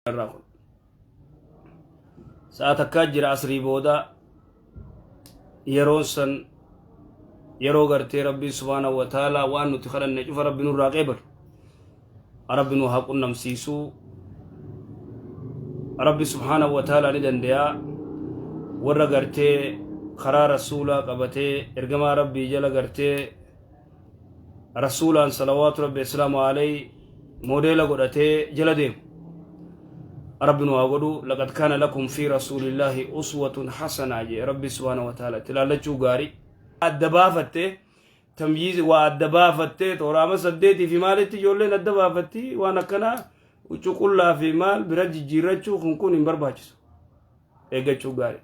irraa kun sa'a takkaa jira asrii booda yeroon san yeroo gartee rabbiin subhaana wa taalaa waan nuti kadhanne cufa rabbi nurraa qeebalu rabbi nu haa qunnamsiisuu rabbi subhaana wa taalaa ni dandayaa warra gartee karaa rasuulaa qabatee ergamaa rabbii jala gartee rasuulaan salawaatu rabbi islaamu alay moodeela godhatee jala deemu rabbi nu haa godhu laqad kaana lakum fi rasuulillaahi uswatun hasanaa jee rabbi subhaana wa taala itti laallachuu gaarii adda baafattee tamyiizi waa adda baafattee tooraama saddeetii fi maalitti ijoolleen adda baafatti waan akkanaa huccuu qullaa fi maal bira jijjiirrachuu kun kun hin barbaachisu eeggachuu gaarii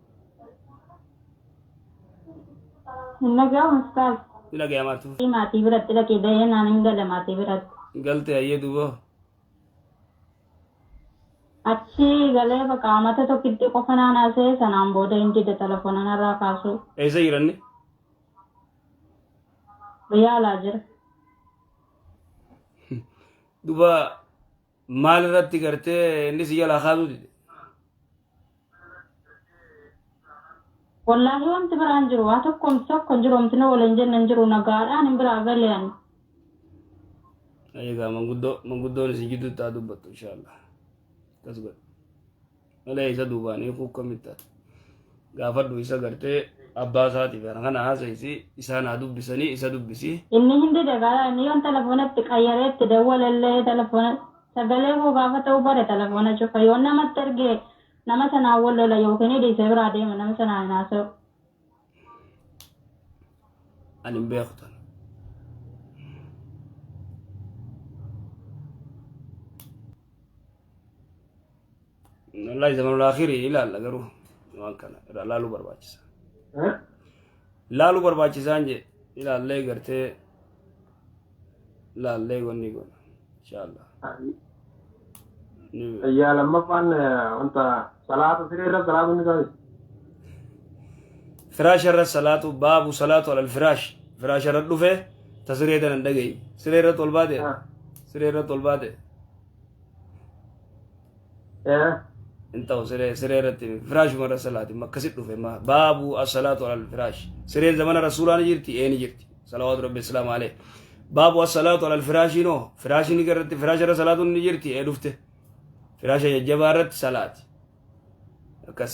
Hin dhaga'amu ustaaz. Ni dhagaya maartu. Maatii biratti dhaqii da'ee naan hin gala maatii biratti. Galte hayyee duuba. Achi galee bakka amata tokkitti qofa naan haasa'e sanaan booda hin dide telefoona narraa kaasuu. Eessa jiranni? Biyya alaa jira. Duuba maal irratti gartee inni si jalaa kaasuu dide Wallaahi wanti biraa hin jiru. Waa tokko homti tokko hin jiru. Homti nu waliin jenne hin jiru. Nagaadhaan hin biraa galee ani. egaa manguddoo manguddoon isin jidduutti haa dubbattu inshaallah akkas godhe malee isa duubaan hiikuu akkamitti ati gaafadhu isa gartee abbaa isaatiif kana kana haasa'isi isaan haa dubbisanii isa dubbisi Inni hindi dagaala inni yoon telefoonatti qayyaree itti dawwalallee telefoona sagalee koo gaafa ta'uu bare telefoona cufa yoon namatti ergee nama sanaan wal lola yookiin dhiisee biraa deema nama sanaan hin haasa'u. ani hin beeku tan wallahi zamanul akhiri ilaalla garuu waan kana irraa laaluu barbaachisa laaluu barbaachisaan jee ilaallee gartee laallee wanni godha inshallah Tayyaa lammaffaan wanta salaata siree irra salaatu ni taasisa. firaasha irra salaatu baabu salaatu alal firaash firaasha irra dhufe ta siree tanan dhagayi siree irratti ol baate siree irratti ol baate Eh, hin ta'u siree siree irratti firaashuma irra salaati makkasi dhufe ma baabu as-salaatu alal firaash sireen zamana rasuulaa ni jirti ee ni jirti salawaatu rabbi islaam alee baabu as-salaatu alal firaashii noo firaashiin irratti firaasha irra salaatuun ni jirti ee dhufte firaasha jajjabaa irratti salaati akkas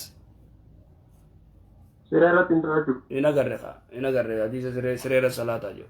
siree irratti hin ta'u jechuudha. hin agarre kaa hin agarre hadiisa siree siree irra salaataa jiru